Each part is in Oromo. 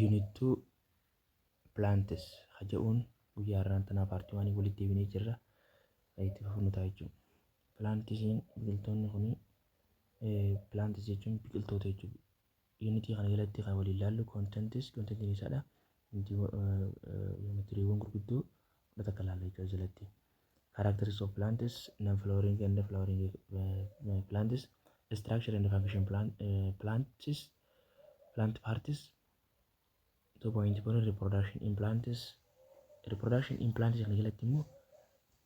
Unit 2 plants ha ja'uun guyyaa irraan tanaa paartii waanii walitti deebinee jirra. Itti fufnu ta'a jechuudha. Plantisiin biqiltoonni kun plantis jechuun biqiltoota jechuudha. Yuunitii kana jalatti kan waliin ilaallu kontentis kontentiin isaadha. Yuunitiriiwwan gurguddoo kudha takka ilaalla jechuudha jalatti. Characteristics of plants, non-flowering and flowering uh, plants, structure and function plant, uh, plants, plant parts, 2.1 reproduction in plants, reproduction in plants kana jalatti immoo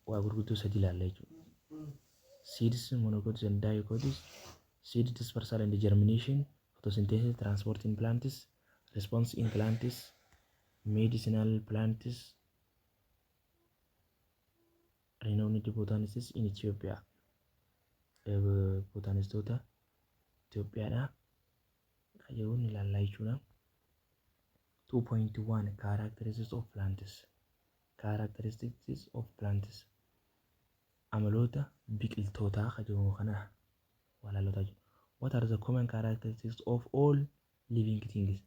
waa gurguddoo sadi ilaalla jechuudha. Seeds, monocots and dicots, seed dispersal and germination, photosynthesis, transport in plants, response in plants, medicinal plants, Renowned Botanists in Ethiopia botaanistoota Itoophiyaadhaa kan jedhuun ilaallaa jechuudha. 2.1 Characteristics of plants Characteristics of plants amaloota biqiltootaa kan jedhamu kana walaalota jechuudha. What are the common characteristics of all living things?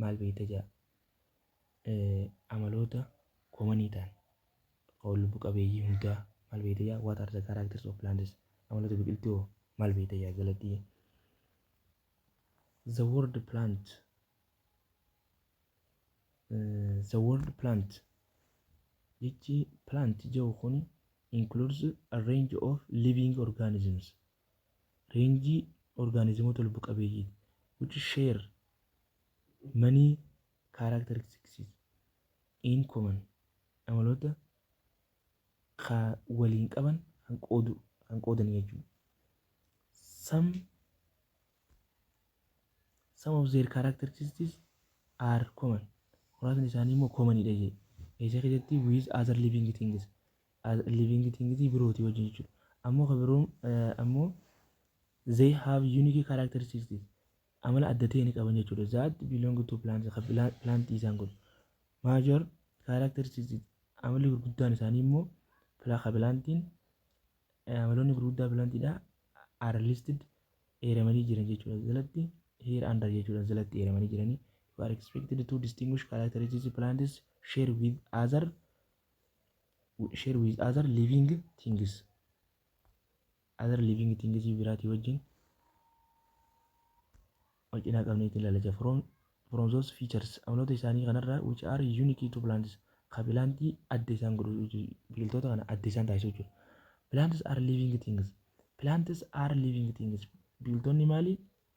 maal beekta ja'a amaloota koomanii ta'an kan lubbu qabeeyyii hundaa maal beekta ja'a what are the characters of plants amaloota biqiltuu hoo maal beekta ja'a galatii the word plant uh, the word plant jechi plant jedhu kun includes a range of living organisms reenjii orgaanizimoota lubbu qabeeyyiiti. which share many characteristics in common amaloota ka waliin qaban kan qoodu kan qoodan jechuudha. Some some of their characteristics are common. Muraasni isaanii immoo common dha jedhe. Eessa keessatti with other living things as a living thing tii birootii wajjin jechuudha. Ammoo ka biroon ammoo they have unique characteristics amala adda ta'e ni qaban jechuudha. That belong to plants ka plantii isaan kun. Major characteristics amalli gurguddaan isaanii immoo ka plantiin amaloonni gurguddaa plantiidha are listed eeramanii jiran jechuudha. Jalatti here under jechuudha jalatti eeramanii jiranii. You are expected to distinguish characteristics plants share with other share with other living things other living things biraatii wajjin wal cinaa qabnee itti ilaalacha from from those features amaloota isaanii kanarraa which are unique to plants ka bilaantii adda isaan godhu jechuu- biqiltoota kana adda isaan taasisu jechuudha. Plants are living things. Plants are living things. Biqiltoonni maali?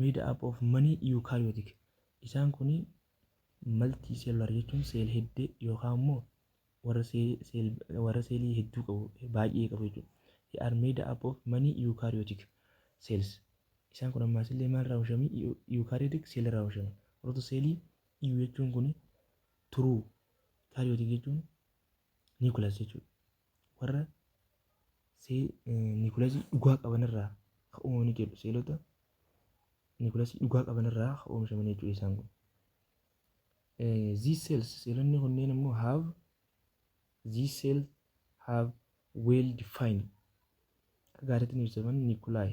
Made up of many eukaryotic Isaan kuni multi cellular jechuun seel heddee yookaan immoo warra seelii seel warra seelii hedduu qabu baay'ee qabu jechuudha. They are made up of many eukaryotic cells Isaan kun ammaas illee maal irraa oomishame eukaryotic cell irraa oomishame warroota seelii EU jechuun kuni true eukaryotic jechuun Niikulas jechuudha. Warra niikulasii dhugaa qabanirraa kan uumamanii jedhu seelota niikulasii dhugaa qabanirraa kan oomishamanii jechuudha isaan kun. These cells seelonni kunneen immoo have these cells have well defined akka gaariitti ni ibsaman niikulaay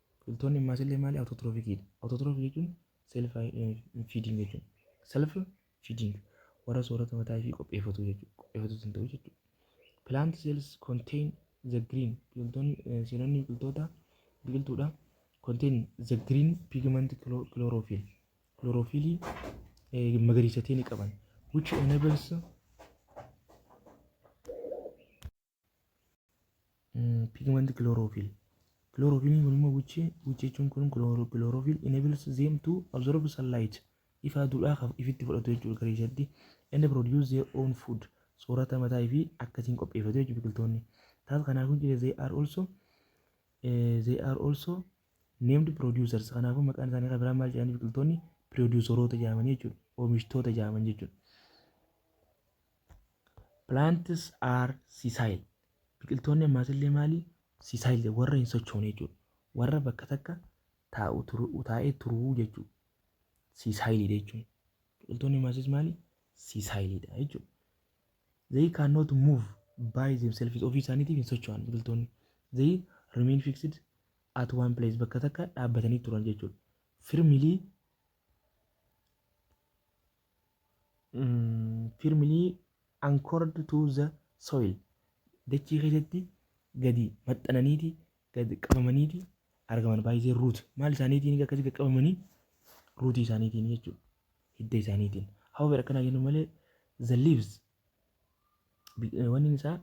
Biqiltoonni ammaas illee maali awutootiroofikiidha. Awutootiroofik jechuun self feeding jechuudha. Self feeding warra soorata mataa ishii qopheeffatu jechuudha. Qopheeffatu hin ta'u jechuudha. Plant cells contain the green biqiltoonni seelonni biqiltoota biqiltuudha. Contain the green pigment chlorophyll chlorophyllii magariisa ta'e ni qaban which enables pigment chlorophyll chlorophyll kun immoo which which jechuun kun chloro- chlorophyll enables them to absorb sunlight ifa aduudhaa kan ifitti fudhatu jechuudha gara isaatti and produce their own food soorata mataa fi akkasiin qopheeffatu jechuudha biqiltoonni taas kanaafuu jira they are also eh, they are also named producers kanaafuu maqaan isaanii kan biraa maal jedhanii biqiltoonni produceroota jedhamanii jechuudha oomishtoota jedhaman jechuudha Plants are sessile. Biqiltoonni ammaas illee maali? Sessile warra hin sochoone jechuudha. Warra bakka takka taa'u turu taa'ee turuu jechuudha. Sessile jechuun. Biqiltoonni ammaas maali? Sessile dha jechuudha. They cannot move by themselves ofii isaaniitiif hin socho'an biqiltoonni. They remain fixed at one place bakka takka dhaabbatanii turan jechuudha. Firmly firmly anchored to the soil dachii keessatti gadi maxxananiiti gadi qabamaniiti argaman baay'ee ruut maal isaaniitiin akkasii gadi qabamanii ruutii isaaniitiin jechuudha hidda isaaniitiin hawwer akkanaa jennu malee the leaves Wanni isaa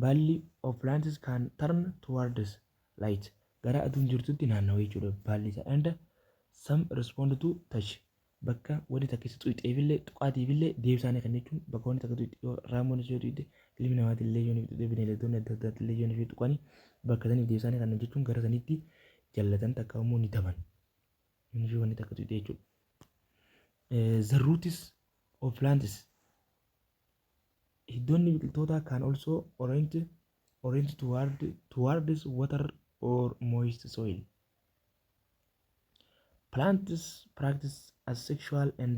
baalli of plants can turn towards light gara aduun jirtutti naannawa jechuudha baalli isaa and some respond to touch bakka wanni takka isa xuqxeefillee tuqaatiifillee deebisaanii kan jechuun bakka wanni takka tuqxe yoo raamoon ishee tuqxe ilmi namaatiin illee yoo tuqxe bineeldonni adda addaatti illee yoo ishee tuqanii bakka saniif deebisaanii kan jechuun gara sanitti jallatan takka immoo ni taban. Inni wanni takka tuqxe jechuudha. The roots of plants hiddoonni biqiltootaa can also orient orient toward towards water or moist soil plants practice as sexual and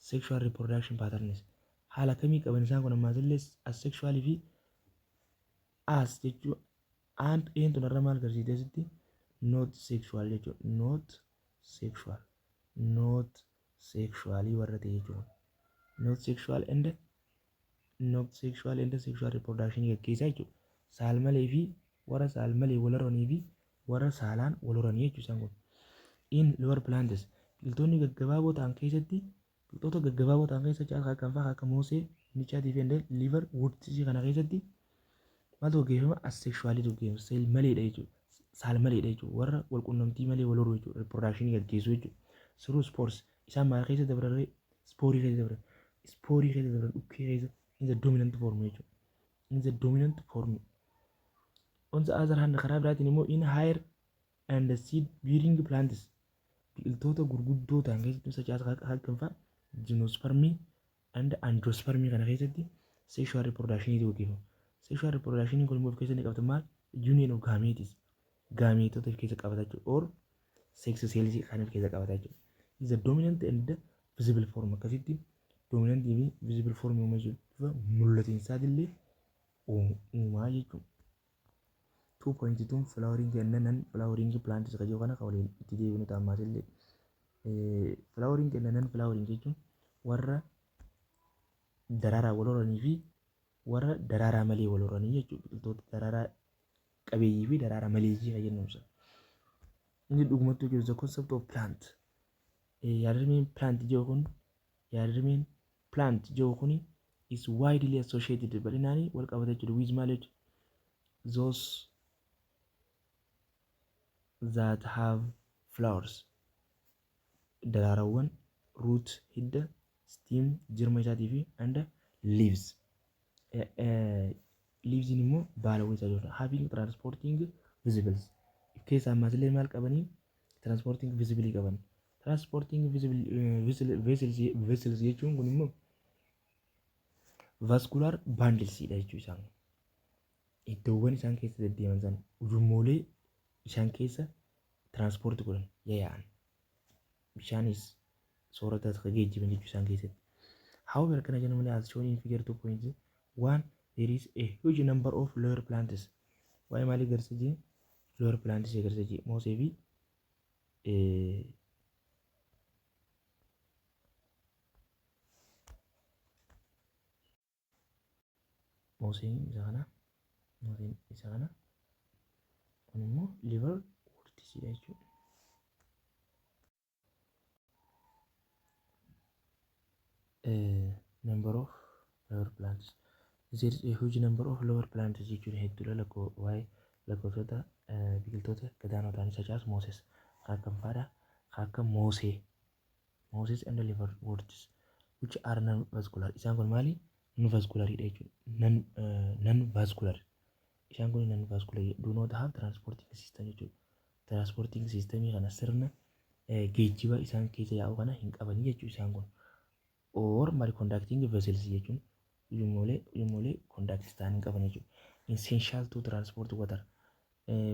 sexual reproduction patterns haala kamii qaban isaan kun ammaas illee as sexual fi as jechuu and een tun irra maal garsiifte asitti not sexual jechuu not sexual not sexually warra ta'e jechuudha. Not sexual and not sexual and sexual reproduction gaggeessaa jechuudha. Saalmalee fi warra saalmalee wal horanii fi warra saalaan wal horanii jechuudha isaan kun. In lower plants biqiltoonni gaggabaaboo ta'an keessatti biqiltoota gaggabaaboo ta'an keessa caalaa kan fa'aa akka moosee, michaatii fi liver woodsi kana keessatti Maaltu gaggeeffama? Asexually tu gaggeeffama. Seel maleedha jechuudha. Saal maleedha jechuudha. Warra wal qunnamtii malee wal horuu jechuudha. Reproduction gaggeessuu jechuudha. Siruu spores isaan maal keessa dabrarree? Spoorii keessa dabran. Spoorii keessa dabran dhukkee keessa in the dominant form jechuudha. In the dominant form. On the other hand karaa biraatiin immoo in higher and seed bearing plants biqiltoota gurguddoo ta'an keessatti such as hagganfaa, gymnospermii, and angiosperm kana keessatti sexual reproduction tu gaggeeffama. Sexual reproduction kun immoo of keessatti qabata maal? Union of gametes. Gaameetota of keessa qabata jechuudha. Or sex cells kan of keessa qabata jechuudha. Is the dominant and the visible form akkasitti dominant fi visible form uuma jechuudha. Bifa mul'atinsaatillee uumaa jechuudha. 2.2 flowering and non flowering plants kan jiru kana kan waliin itti deebinu ta'a ammaas illee flowering and non flowering jechuun warra daraaraa wal horanii fi warra daraaraa malee wal horanii jechuudha biqiltoota daraaraa qabeeyyii fi daraaraa maleeyyii kan jennu ibsa. Inni dhugumattuu jiru the concept of plant yaadrimeen plant jiru kun yaadrimeen plant jiru kun is widely associated bal'inaan wal qabata jechuudha with malage those that have flowers daraarawwan root hidda stem jirma isaatii fi and leaves Eh, eh, leaves immoo baalawwan isaa jechuudha having transporting visibles of keessaa ammas illee maal qabanii transporting visibilii qaban Transporting visible eh, vessel- vessels vessels jechuun kun immoo vascular bundles dha jechuu isaan. Iddoowwan isaan keessa deddeeman sana ujummoolee isaan keessa transport godhan yaa'an. Bishaanis sooratas kan geejjiban jechuu isaan keessatti. However, kana jennu malee as shown in figure 2.1 one there is a huge number of lower plants. Waa'ee maalii agarsiisa? Lower plants agarsiisa. Moosee fi Mooseen isa kana mooseen isa kana kun immoo liver wortisiidha jechuudha. Number of lower plants There is a huge number of lower plants jechuun hedduudha lakkoo waa'ee lakkoofsota biqiltoota gadaanoo ta'anii facaasu Mooses kaakkan faadha kaakkan Moosee Mooses and liver words which are non vascular isaan kun maali non vascular dha jechuudha non non vascular isaan kun non vascular do not have transporting system jechuudha Transporting system kana sirna geejjiba isaan keessa yaa'u kana hin qabanii jechuu isaan kun. Or mari conducting vessels jechuun ujumoolee ujumoolee conduct ta'an hin qaban jechuudha. Essential to transport water.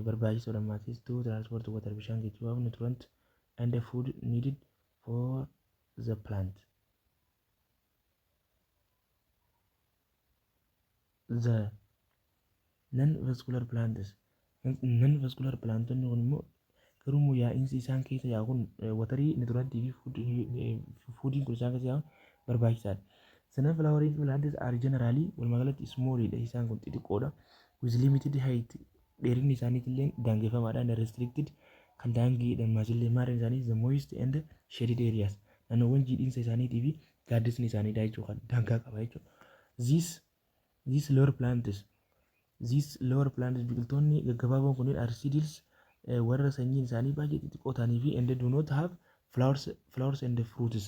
Barbaachisoo lammaatis to transport water bishaan geejjibaaf nutrient and food needed for the plant. the non vascular plants non vascular plantonni kun immoo garuu immoo yaa'iinsi isaan keessa yaa'u kun watarii niturantii fi fuudiin kun isaan keessa yaa'u barbaachisaadha. Sanan flowering plants are generally walumaa galatti small dha isaan kun xixiqqoodha. With limited height dheerinni isaaniitti illee daangeffamaadha and restricted kan daangiidhaan maasillee maarreen isaanii the moist and shaded areas naannoowwan jiidhinsa isaaniitii fi gaaddisni isaanii daa jechuu kan daangaa qaba jechuudha. These these lower plants these lower plants biqiltoonni gaggabaaboon kunneen are seedless eh, warra sanyiin isaanii baay'ee xixiqqoo ta'anii fi and do not have flowers flowers and fruits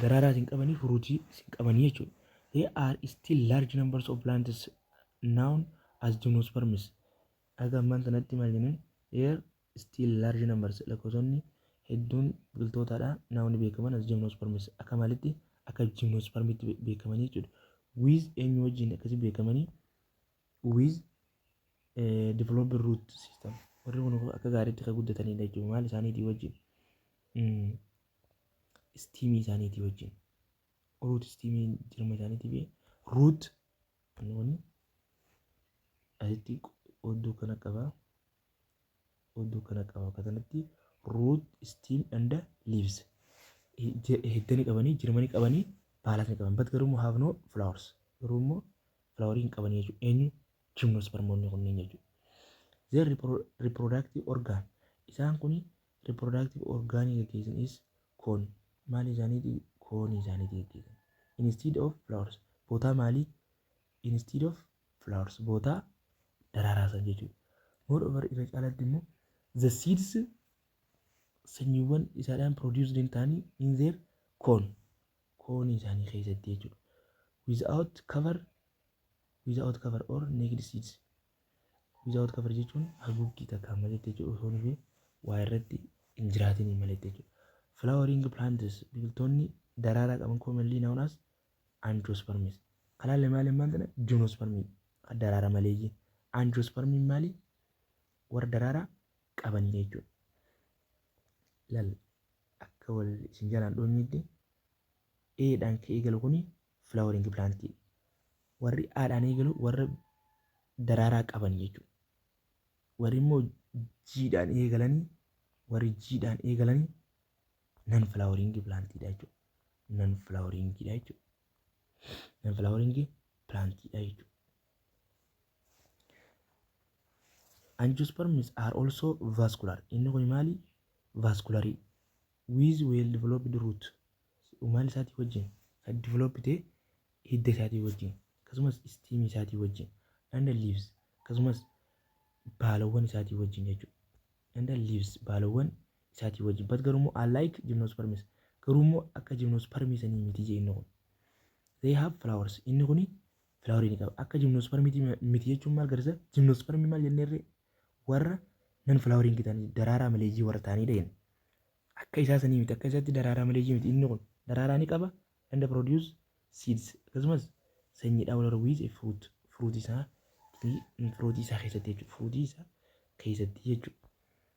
daraaraa isin qabanii furuutii isin qabanii jechuudha. They are still large numbers of plants known as gymnosperms. Aga ammaan tanatti maal jennan? Here still large numbers lakkoofsonni hedduun biqiltootadha now ni beekaman as gymnosperms akka maalitti akka gymnospermitti be- beekamanii jechuudha with eenyu wajjin akkasii beekamanii with eh, developed root system warri kun akka gaariitti kan guddatanidha jechuudha maal isaaniitii wajjin mm. istiimii isaaniitii wajjin ruut istiimii jirma isaaniitii fi ruut inni kun asitti odduu kana qaba Odduu kana qaba akka tanatti root stem and leaves hiddani qabanii jirmani qabanii baalatni qaban bat garuu immoo have no flowers garuu immoo flowerii hin qabanii jechuudha eenyu jimnospermoonni kunniin jechuudha. Their repro- reproductive organ isaan kuni reproductive organ gaggeessan is koon maali isaaniiti koonii isaaniiti gaggeessan instead of flowers bootaa maalii instead of flowers boota daraaraa san jechuudha. Moreover irra caalatti immoo the seeds sanyiiwwan isaadhaan produced hin ta'anii in their cone koonii isaanii keessatti jechuudha. Without cover without cover or naked seeds without cover jechuun haguuggii takkaan maletti jechuudha osoo nufi waa irratti hin jiraatinii maletti jechuudha. Flowering plants biqiltoonni daraaraa qaban commonly known as Angiosperms. Kalaan lamaan lammaan tana gymnospermii dha. Daraara maleeyyii. Angiospermiin maali? Warra daraara qabanii jechuudha. Lal akka wal isin jalaan dhoonyeetti A dhaan ka eegalu kuni flowering plant dha. Warri A dhaan eegalu warra daraaraa qaban jechuudha. Warri immoo G dhaan eegalanii warri G dhaan eegalanii non flowering plant dha jechuudha. nan filaaworiingiidha jechuudha. Nan filaaworiingii pilaantiidha jechuudha. Angiosperms are also vascular. Inni kun maali? Vascular with well developed root. Umaan isaatii wajjin kan develop ta'e hidda isaatii wajjin akkasumas stem isaatii wajjin and leaves akkasumas baalawwan isaatii wajjin jechuudha. And leaves baalawwan isaatii wajjin but garuu immoo unlike gymnosperms garuu immoo akka gymnosperm sanii miti jee inni kun they have flowers inni kuni flower ni qaba akka gymnosperm miti jechuun maal garisa gymnosperm maal jenneerre warra nan flowering ta'anii daraaraa maleeyyii warra ta'aniidha jenna akka isaa sanii miti akka isaatti daraaraa maleeyyii miti inni kun daraaraa ni qaba and produce seeds akkasumas sanyii dhaawular with a fruit fruit isaa fruit isaa keessatti jechuudha fruit isaa keessatti jechuudha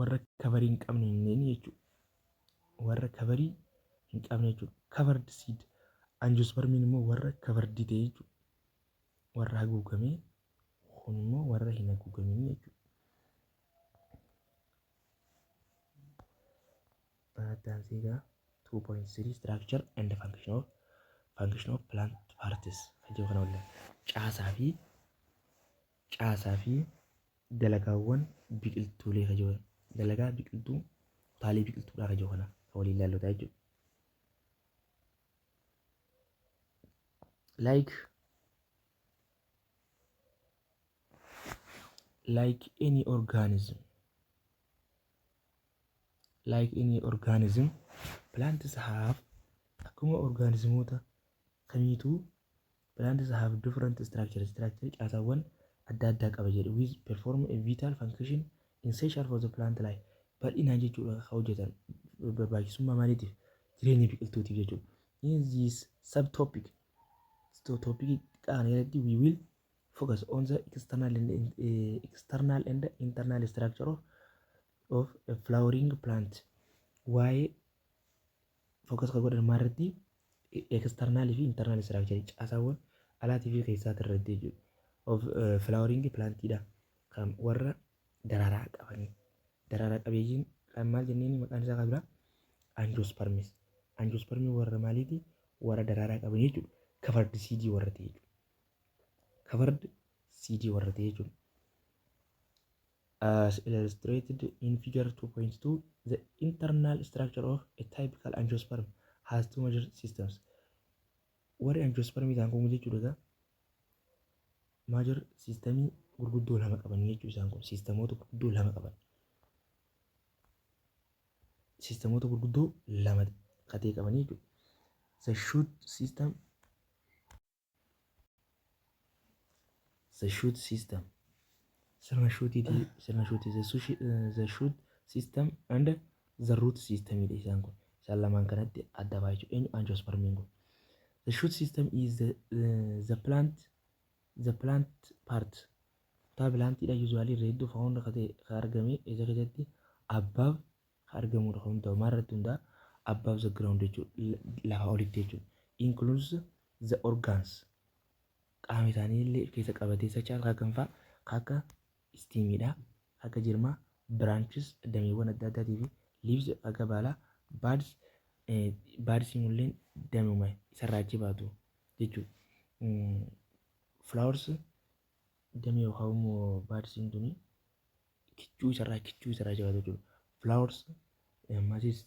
warra kabarii hin qabne hin jedhini jechuudha. Warra kabarii hin qabne jechuudha. Covered seed. Angiospermiin immoo warra covered ta'e jechuudha. Warra haguugame kun immoo warra hin haguugamin jechuudha. Addaan seegaa 2.3 structure and function of function of plant parts kan jedhu kana waliin caasaa fi Caasaa fi dalagaawwan biqiltuulee ka jiru dalagaa biqiltuu kutaalee biqiltuudhaa ka jiru kana ka waliin laallotaa jechuudha. Like like any organism like any organism plants have akkuma orgaanizimoota kamiituu plants have different structures structure caasaawwan adda addaa qaba jedhe with perform a vital function essential for the plant life bal'inaan jechuudha kan hojjetan barbaachisummaa maaliitiif jireenya biqiltuutiif jechuudha. In this subtopic topic xiqqaa kana irratti we will focus on the external and, eh, external and internal structure of, of a flowering plant. Waa'ee Focus kan godhan maalirratti? External fi internal structure caasaawwan alaatii fi keessaati irratti jechuudha. Of flowering plant dha. Kan warra daraaraa qabanii. Daraaraa qabeeyyiin kan maal jenneen maqaan isaa kan biraa? Angiosperms. Angiosperms warra maaliiti? Warra daraaraa qaban jechuudha. Covered seed warra ta'e jechuudha. Covered seed warra ta'e jechuudha. As illustrated in figure 2.2, the internal structure of a typical angiosperm has two major systems. Warri angiospermii ta'an kun jechuudha egaa major systemii gurguddoo lama qaban jechuu isaan kun sistemoota gurguddoo lama qaban. Sistemoota gurguddoo lama katee qaban jechuudha. The shoot system the shoot system sirna shuutiiti sirna shuuti the sushi- eh, the shoot system and the root system dha isaan kun isaan lamaan kanatti adda ba'a jechuudha eenyu angiospermiin kun the shoot system is the, eh, the plant the plant part kutaa pilaantiidha usually reedduu faawunda kate ka argame isa keessatti above ka argamuu dha. Kun hundi ta'u maal irratti hundaa'a? Above the ground jechuun lafaa olitti jechuudha. Includes the organs qaama isaanii illee of keessa qabatee such as akka kam fa'a? Ka akka istiimii dha, ka akka jirmaa, branches dameewwan adda addaatii fi leaves ka akka baalaa, buds eh, buds immoo illeen damuma isarraa achi baatu jechuudha. Mm, flowers damee yookaan immoo baadsiin tuni kichuu isarraa kichuu isarraa jabaatu jechuudha. Flowers ammasis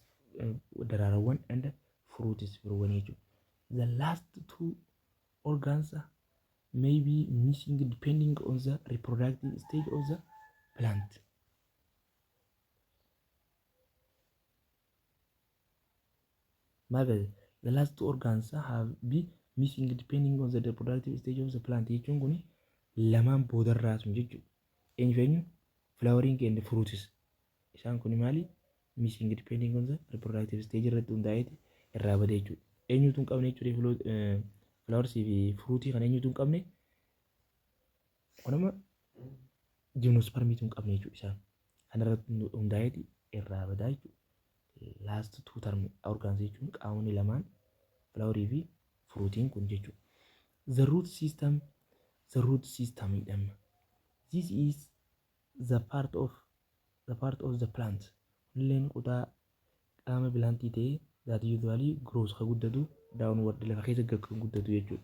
daraarawwan and fruits firuuwwanii jechuudha. The last two organs may be missing depending on the reproductive stage of the plant. Mabel, the last two organs have be missing depending on the reproductive stage of the plant jechuun kun lamaan boodarraa sun jechuudha. Eenyu fi eenyu? Flowering and fruits. Isaan kun maali? Missing depending on the reproductive stage irratti hundaa'eeti irraa bada jechuudha. Eenyutu hin qabne jechuudha flowers fi fruitii kan eenyutu hin qabne? Wanuma jiimnosparmii tun qabne jechuudha isaan. Kanarratti hundaa'eeti irraa badaa jechuudha. Last two term organs jechuun qaamonni lamaan filaaworii fi furuutiin kun jechuudha. The root system the root system jedhama. This is the part of the part of the plant. Illeen kutaa qaama bilaantii ta'ee that usually grows ka guddatu downward lafa keessa gad kan guddatu jechuudha.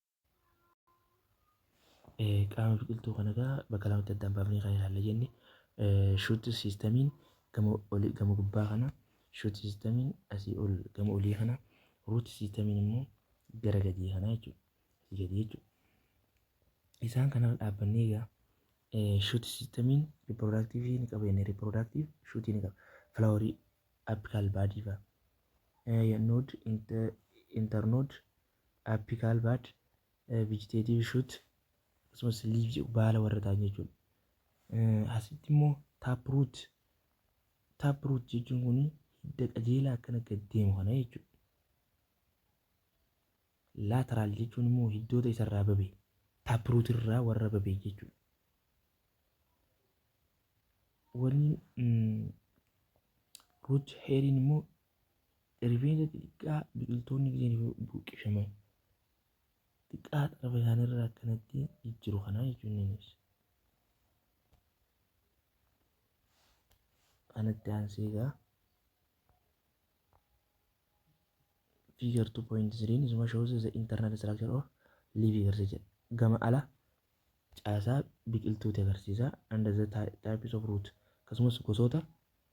Qaama biqiltuu kana egaa bakka lamatti addaan baafnee kan ilaalle jenne shuut siistamiin gama olii gama gubbaa kana shuut siistamiin asii ol gama olii kana ruut siistamiin immoo gara gadii kana jechuudha. Asii gadii jechuudha. Isaan kana dhaabbannee egaa shuut siistamiin riipiroodaaktiivii ni qaba inni riipiroodaaktiiv shuutii ni qaba. Filaaworii appikaal baadii fa'a. Nood intarnood Apical bud, vegetative shoot, akkasumas leaf jedhu baala warra ta'an jechuudha. Asitti immoo taproot taproot jechuun kun hidda qajeelaa akkana gad deemu kana jechuudha. Lateral jechuun immoo hiddoota isarraa babe taproot irraa warra babe jechuudha. Wanni root heeriin immoo Rifeensa xixiqqaa biqiltoonni gideen buqqifamee xiqqaa xarafa isaaniirraa akkanatti jijjiru kanaa jechuun ni ibsa. Kanatti aansee egaa figure 2.3 isuma shows the internal structure of leaf agarsiisa jedha. Gama ala caasaa biqiltuuti agarsiisa under the types of root akkasumas gosoota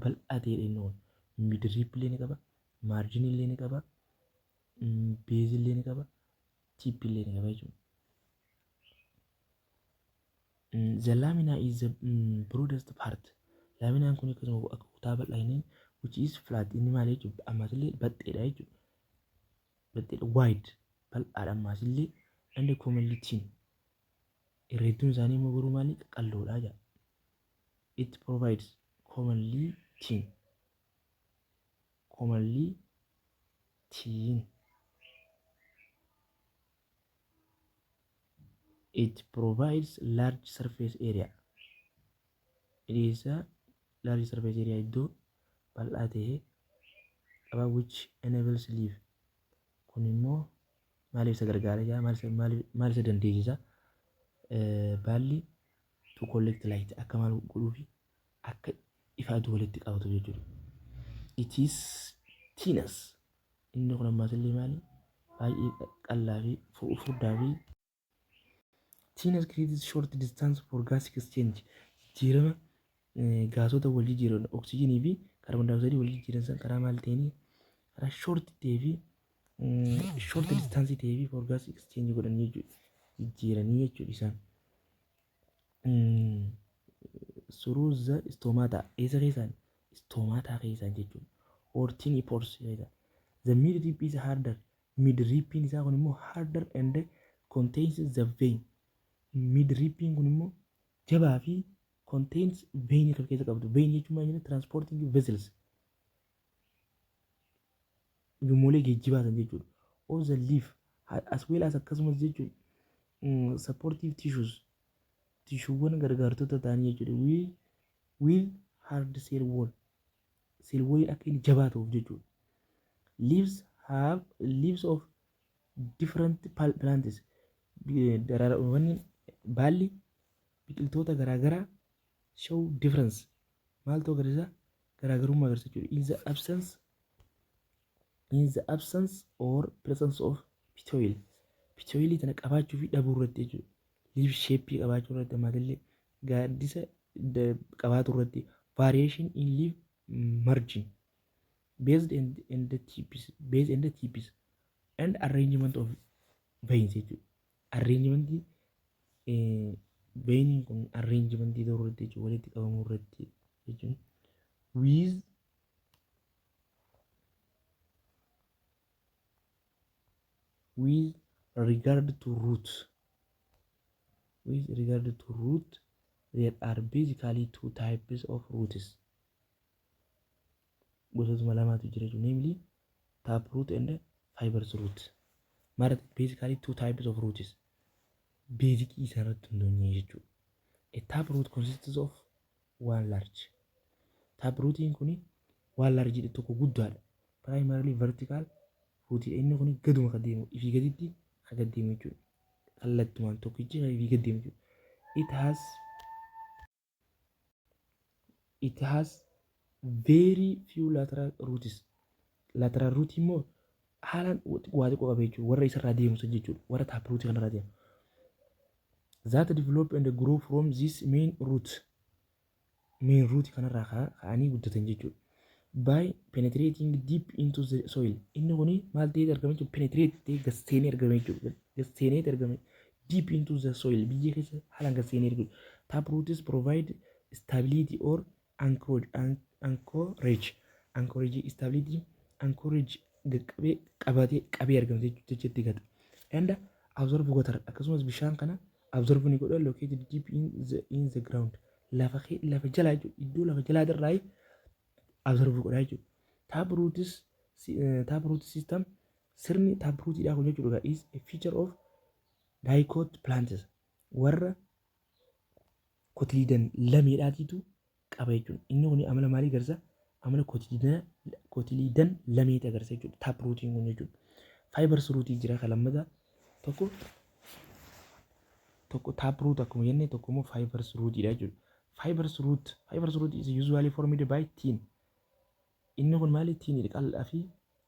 bal'aa ta'edha inni kun. Midiriip illee ni qaba, maarjinii illee ni qaba, beezii illee ni qaba, tiippii illee ni qaba jechuudha. The lamina is the mm, broadest part. Laaminaan kun akkasuma akka kutaa bal'aa inni which is flat inni maal jechuudha ammas illee baxxeedha jechuudha. Baxxeedha wide bal'aadha ammas illee and commonly thin Irra hedduun isaanii immoo garuu maali qaqalloodha jedha. It provides commonly tin. Commonly tin. It provides large surface area. Dhiyeessa large surface area iddoo bal'aa ta'e qaba which enables leaf Kun immoo maaliif isa gargaara jaa maal isa- maaliif- maal isa dandeessisa Eh, baalli to collect light akka maal godhuu fi akka ifa aduu walitti qabatu jechuudha. It is thinus. Inni kun ammaas illee maali? Baay'ee qa- qal'aa fi fu- furdaa fi Teenage creates short distance for gas exchange. Jijjiirama eh, gaasota wal jijjiiran oksijiinii fi kaarboon daayooksaayidii wal jijjiiran san karaa maal ta'een karaa short ta'ee fi short distance ta'ee fi for gas exchange godhan jechuudha. Jijjiiranii jechuudha isaan. Mm, Through the stomata eessa keessaan stomata keessaan jechuudha. Or tiny pores keessaan. The meat tip is harder Mid ripiin isaa kun immoo harder and contains the vein. Mid ripiin kun immoo jabaa fi contains vein kan keessa qabdu. Vein jechuun maal jenna transporting vessels. Ujummolee geejjibaa san jechuudha. Of the leaf as well as akkasumas jechuun mm, supportive tissues tishuuwwan gargaartota ta'anii jechuudha. With, with hard cell wall sirboonni akka inni jabaa ta'uuf jechuudha. Leaves have leaves of different pal- plants Bi- daraarawwan baalli biqiltoota garaagaraa show difference maaltu agarsiisa garaagarummaa agarsiisa jechuudha. In the absence in the absence or presence of pitoil pitoilii tana qabaachuu fi dhabuu irratti jechuudha liif sheeppii qabaachuu irratti ammatillee gaaddisa da- qabaatu irratti variation in liif margin based and, and the tipis based and the tipis and arrangement of veins jechuudha arrangementii eh, veiniin kun arrangementii ta'uu irratti jechuudha walitti qabamuu irratti jechuudha with with regard to root with regard to root there are basically two types of roots gosootuma lamaatu jira jechuudha namely tap root and fibrous root mara basically two types of roots beezikii isaarratti hundoonye jechuudha a tap root consists of waan large tap ruutiin kun waan large dha tokko guddaadha primarily vertical ruutii inni kun gaduma ka deemu ifii gaditti ka gad deemu jechuudha kallattumaan tokkichi ka ifii gad deemu jechuudha it has it has very few lateral roots lateral root immoo haalaan waa xiqqoo qaba jechuudha warra isarraa deemu san jechuudha warra tap root kanarraa deemu that develop and grow from this main root main root kanarraa ka- ka'anii guddatan jechuudha by penetrating deep into the soil inni kuni maal ta'eet argame jechuudha penetrate ta'ee gad seenee argame jechuudha gad seeneet argame deep into the soil biyyee keessa haalaan gad seenee argame tap roots provide stability or anchorage anchorage stability anchorage qaqqabee qabatee qabee argama jechuutti gata and absorb water akkasumas bishaan kana absorb ni godha located deep in the, in the ground lafa kee- lafa jalaa jechuudha iddoo lafa jalaa irraa absorb godha jechuudha tap roots eh, tap root system sirni tap rootidhaa kun jechuudha is a feature of dicot plants warra kotididan lameedhaatiitu qaba jechuudha. Inni kun amala maalii agarsiisa? Amala kotididan lameeti agarsiisa jechuudha. Taap ruutiin kun jechuudha. Faayibars ruutii jira kan lammataa tokko tokko taap ruut akkuma jenne tokko immoo faayibars ruutiidha jechuudha. Faayibars ruut faayibars ruut is usually formed by tiin. Inni kun maali tiinidha qal'aa fi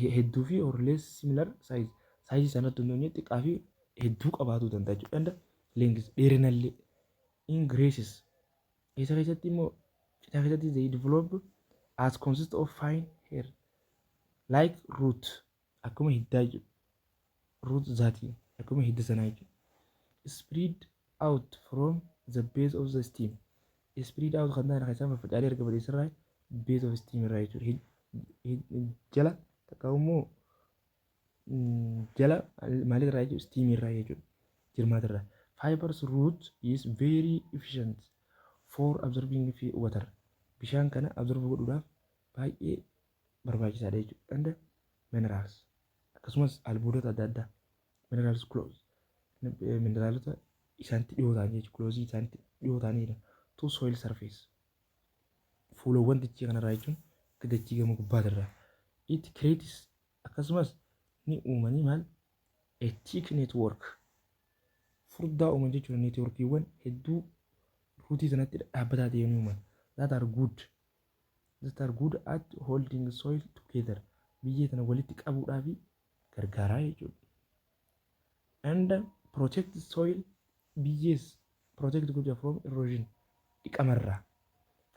he- hedduu fi or less similar size size sana otoo hin taane xiqqaa fi hedduu qabaatuu danda'a jechuudha and length dheerinallee in graces isa keessatti immoo citaa keessatti they develop as consist of fine hair like root akkuma hiddaa jechuudha root zati akkuma hidda sanaa jechuudha. Spread out from the base of the stem. Spread out kan ta'an keessaa faffacaalee erga bal'eessirraa base of stem irraa jechuudha. Jala takka immoo jala maalirraa jechuudha stem irraa jechuudha. Jirmaatirraa. Fibers root is very efficient for absorbing water. Bishaan kana absorb godhuudhaaf baay'ee barbaachisaadha jechuudha. And minerals. akkasumas albuudota adda addaa minerals close mineraalota isaanitti dhiyoo ta'an jechuudha close isaanitti dhiyoo ta'anidha to soil surface fuulawwan dachii kanarraa jechuun akka dachii gama gubbaatirraa it creates akkasumas ni uumanii maal a thick network furdaa uuman jechuudha networkiiwwan hedduu ruutii sanatti dhaabbataa ta'e ni uuman that are good that are good at holding soil together biyyee tana walitti qabuudhaaf gargaaraa jechuudha. And protect soil biyyees protect godha from erosion dhiqamarraa.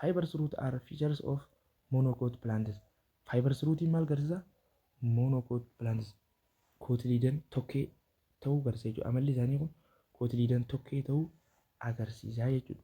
Fibers root are features of monocoat plants. Fibers rootiin maal garsiisa? Monocoat plants. Kootiliidan tokkee ta'uu garsiisa jechuudha. Amalli isaanii kun kootiliidan tokkee ta'uu agarsiisaa jechuudha.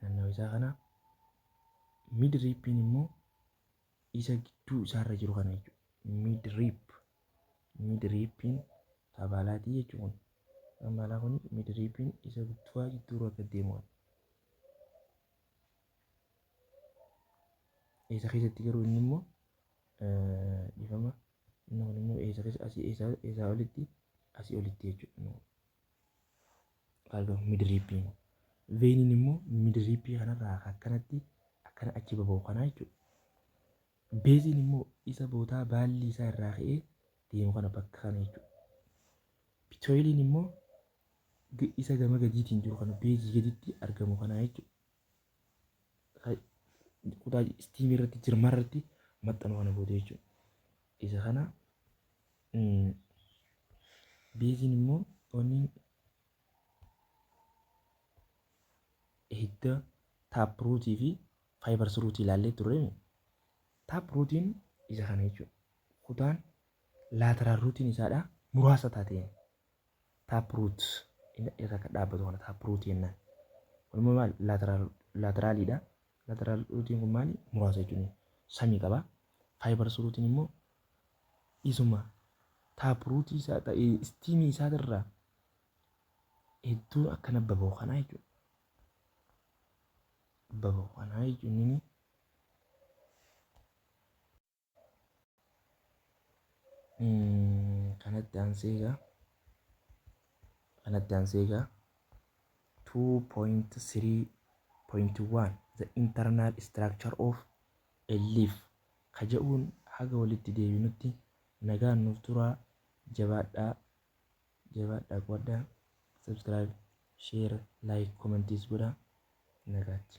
naannawa isaa kana mid riippiin immoo isa gidduu isaarra jiru kana jechuudha mid riip mid riippiin taabaalaatii jechuun taabaalaa kun mid riippiin isa guddaa jidduurra akka deemu isa keessatti garuu inni immoo dhifama inni kun immoo isa keessa asii isaa olitti asii olitti jechuudha Argamu midiriippii immoo. Veeniin immoo midiriippii kanarraa akka akkanatti akkana achi baba'u kanaa jechuudha. Beeziin immoo isa bootaa baallii isaa irraa ka'ee deemu kana bakka kana jechuudha. Pitooyiliin immoo g- isa gama gadiitiin jiru kana beezii gaditti argamu kanaa jechuudha. Ka- Kutaa istiimii irratti jirma irratti maxxanu kana booda jechuudha. Isa kana Beeziin immoo wanni hidda taapruutii fi faayibarsiruutii ilaallee turre taapruutiin isa kana jechuudha. Kutaan laateraal ruutiin isaadha muraasa taateen taapruut irra kan dhaabbatu kana taapruutii jennaan. Kun immoo maal laateraaliidha. Laateraal ruutiin kun maali muraasa jechuudha. Samii qaba. Faayibarsiruutiin immoo isuma taapruutii isaa ta- eh, istiimii isaatirraa hedduun akkana baba'u kanaa jechuudha. Baba'u kanaa jechuun inni Mm, kanatti aansee egaa kanatti aansee egaa 2.3.1 the internal structure of a leaf ka ja'uun haga walitti deebinutti nagaan nuuf turaa jabaadhaa jabaadhaa quwadhaa subscribe share like comments godhaa nagaatti.